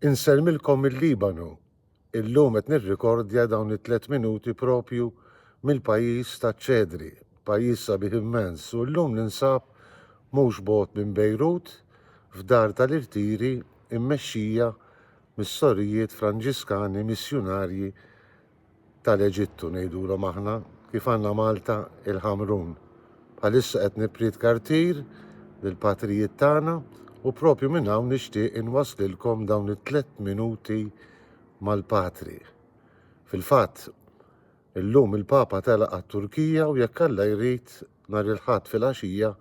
Insellmilkom mill-Libanu. Illum qed nirrikordja dawn it-tliet minuti propju mill-pajjiż taċ-ċedri, pajjiż sabiħ immens u llum ninsab mhux bogħod minn Bejrut f'dar tal-irtiri mmexxija mis-sorijiet Franġiskani missjunarji tal-Eġittu ngħidulhom aħna, kif għandna Malta il-Ħamrun. Bħalissa qed nipprietka rtir lill-patrijiet tagħna u propju minn hawn nixtieq inwasslilkom dawn it-tliet minuti mal-Patri. Fil-fatt, illum il-Papa telaq għat-Turkija u jekk Alla jrid nhar il-Ħadd filgħaxija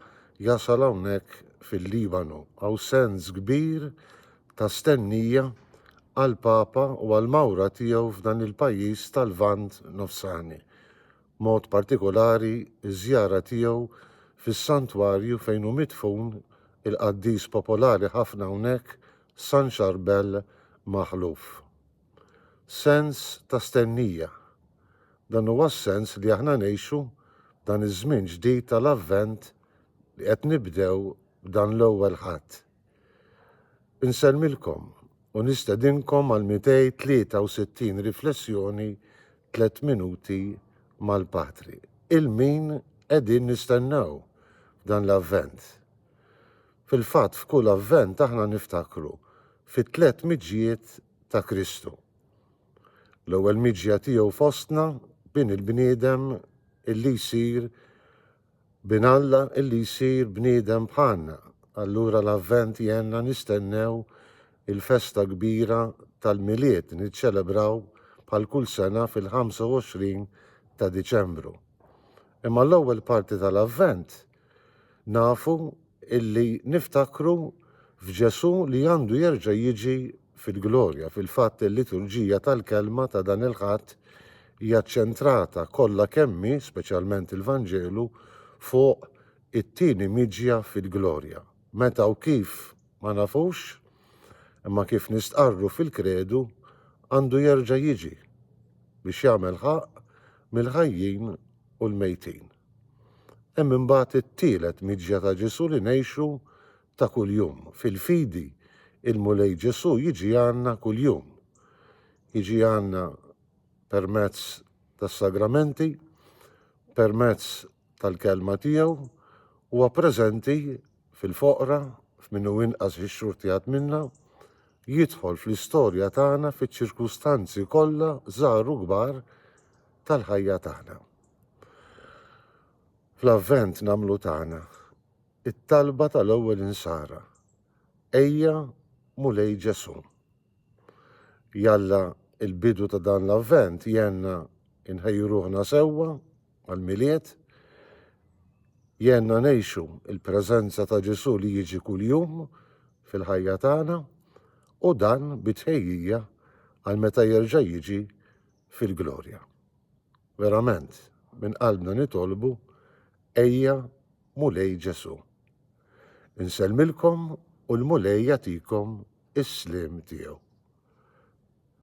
jasal hawnhekk fil-Libanu. Hawn sens kbir ta' stennija għall-Papa u għall-mawra tiegħu f'dan il-pajjiż tal-Lvant Nofsani, b'mod partikolari ż-żjara tiegħu fis-santwarju fejn hu midfun il-qaddis popolari ħafna hawnhekk San Charbel Maħluf. Sens ta' stennija. Dan huwa s-sens li aħna ngħixu f'dan iż-żmien ġdid tal-Avvent li qed nibdew b'dan l-Ewwel Ħadd. Insellmilkom u nistedinkom għal 263 riflessjoni tliet minuti mal-Patri. Il-min qegħdin nistennew f'dan l-Avvent? Fil-fatt f'kull Avvent aħna niftakru fit-tliet miġjiet ta' Kristu. L-ewwel miġja tiegħu fostna, bin il-bniedem illi jsir Bin Alla illi jsir bniedem bħalna. Allura l-Avvent jgħinna nistennew il-festa kbira tal-Milied niċċelebraw bħal kull sena fil-25 ta' Diċembru. Imma l-ewwel parti tal-Avvent nafu illi niftakru f'Ġesù li għandu jerġa' jiġi fil-glorja. Fil-fatt, il-liturġija tal-Kelma ta' dan il-Ħadd hija ċċentrata kollha kemm hi, speċjalment il-Vanġelu, fuq it-tieni miġja fil-glorja. Meta u kif ma nafux, imma kif nistqarru fil-Kredu, għandu jerġa' jiġi biex jagħmel ħaqq mill-ħajjin u l-mejtin. Hemm imbagħad it-tielet miġja ta' Ġesù li ngħixu ta' kuljum. Fil-fidi, il-Mulej Ġesù jiġi għandna kuljum. Jiġi għandna permezz tas-sagramenti, permezz tal-Kelma tiegħu, huwa preżenti fil-foqra, f'min hu inqas ixxurtjat minna, jidħol fl-istorja tagħna fiċ-ċirkustanzi kollha żgħar u kbar tal-ħajja tagħna. Fl-Avvent nagħmlu tagħna It-talba tal-ewwel insara, Ejja, Mulej Ġesù. Jalla l-bidu ta' dan l-Avvent jgħinna nħejju ruħna sewwa għall-Milied, jgħinna ngħixu l-preżenza ta' Ġesù li jiġi kuljum fil-ħajja tagħna, u dan bi tħejjija għal meta jerġa' jiġi fil-glorja. Verament, minn qalbna nitolbu, Ejja, Mulej Ġesù. Insellmilkom u l-Mulej jagħtikom is-sliem tiegħu.